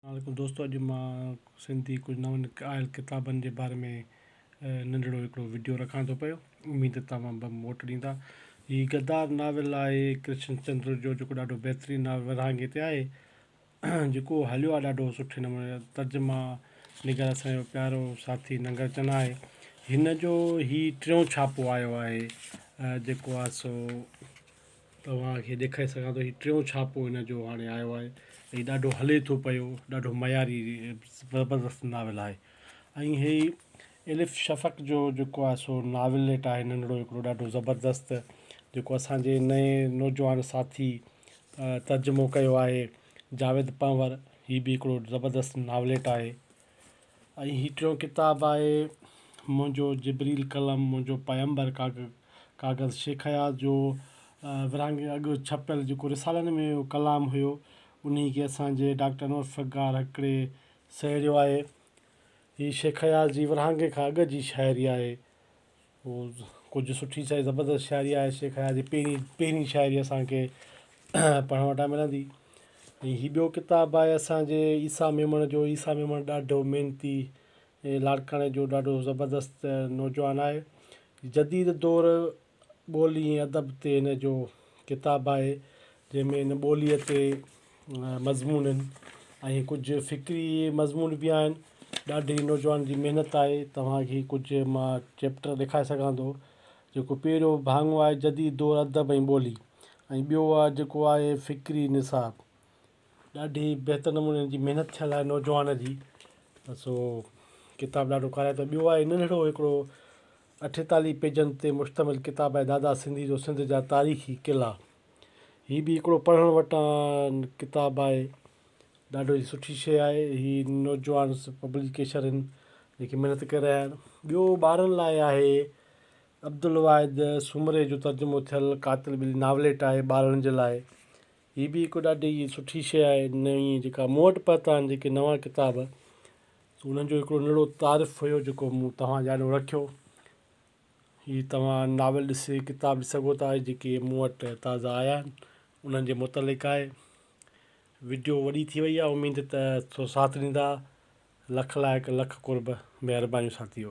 السلام عليڪم دوستو اڄ مان سنڌي ڪجهه نون آيل ڪتابن جي باري ۾ ننڍڙو هڪڙو وڊيو رکان ٿو پيو اميد توهان به موٽ ڏيندا هي غدار ناول آهي ڪرشن چندر جو جيڪو ڏاڍو بهترين ناول ورهاڱي تي آهي جيڪو هليو آهي ڏاڍو سٺي نموني ترجما نگار اسان جو پيارو ساٿي ننگر چنا آهي هن جو هي ٽيون ڇاپو آيو آهي جيڪو آهي سو توهان کي ڏيکاري سگهان ٿو هي ٽيون ڇاپو هن جو هاڻي آيو آهي هي ڏاڍو هلي ٿو پيو ڏاڍو معياري زبردست ناول آهي ۽ هي الف شفق جو جيڪو آهي سو ناوليٽ آهي ننڍڙو هڪڙو ڏاڍو زبردست جيڪو اسانجي نئين نوجوان ساٿي ترجمو ڪيو آهي جاويد پنهور هي به هڪڙو زبردست ناوليٽ آهي ۽ هي ٽيون ڪتاب آهي منهنجو جبريل قلم منهنجو پيمبر ڪاغذ ڪاغذ شيخ اياز جو ورهاڱي اڳ ڇپيل جيڪو رسالن ۾ هو ڪلام هيو انهي کي اسانجي ڊاڪٽر انور سگار هڪڙي سهيڙيو آهي هي شيخ اياز جي ورهاڱي کان اڳ جي شاعري آهي هو ڪجهه سٺي سائي زبردست شاعري آهي شيخ حيات جي پهرين پهرين شاعري اسانکي پڙهڻ وٽان ملندي ۽ هي ٻيو ڪتاب آهي اسانجي عيسيٰ ميمڻ جو عيسيٰ ميمڻ ڏاڍو محنتي ۽ لاڙڪاڻي جو ڏاڍو زبردست نوجوان آهي جديد دور ٻولي ۽ ادب تي هن جو ڪتاب آهي جنهن ۾ هن ٻوليء تي مضمون آهن ۽ ڪجهه فڪري مضمون به آهن ڏاڍي نوجوان جي محنت آهي توهان کي ڪجهه مان چيپٽر ڏيکاري سگهان ٿو جيڪو پهريو ڀاڱو آهي جديد دور ادب ۽ ٻولي ۽ ٻيو آهي جيڪو آهي فڪري نصاب ڏاڍي بهتر نموني ان جي محنت ٿيل آهي نوجوان جي ته سو ڪتاب ڏاڍو ڪارائتو آهي ٻيو آهي ننڍڙو هڪڙو اٺيتاليهه پيجن تي مشتمل ڪتاب آهي دادا سنڌي جو سنڌ جا تاريخي قلعا هي به هڪڙو پڙهڻ وٽان ڪتاب آهي ڏاڍو ئي سٺي شيء آهي هي نوجوان پبليڪيشن هن جيڪي محنت ڪري رهيا آهن ٻيو ٻارن لاء آهي عبدالواحد سومري جو ترجمو ٿيل قاتل ٻلي ناوليٽ آهي ٻارن جي لاء هي به هڪ ڏاڍي ئي سٺي شيء آهي نئين جيڪا مون وٽ پهتا آهن جيڪي نوان ڪتاب انهن جو هڪڙو نڙو تعارف هيو جيڪو مون توهان جي آڏو رکيو هي توهان ناول ڏسي ڪتاب ڏسي سگهو ٿا جيڪي مون وٽ تازا آيا آهن انهن جي متعلق آهي وڊيو وڏي ٿي وئي آهي اميد ته سو ساٿ ڏيندا لک لائق لک قرب مهربانيون ساٿيو.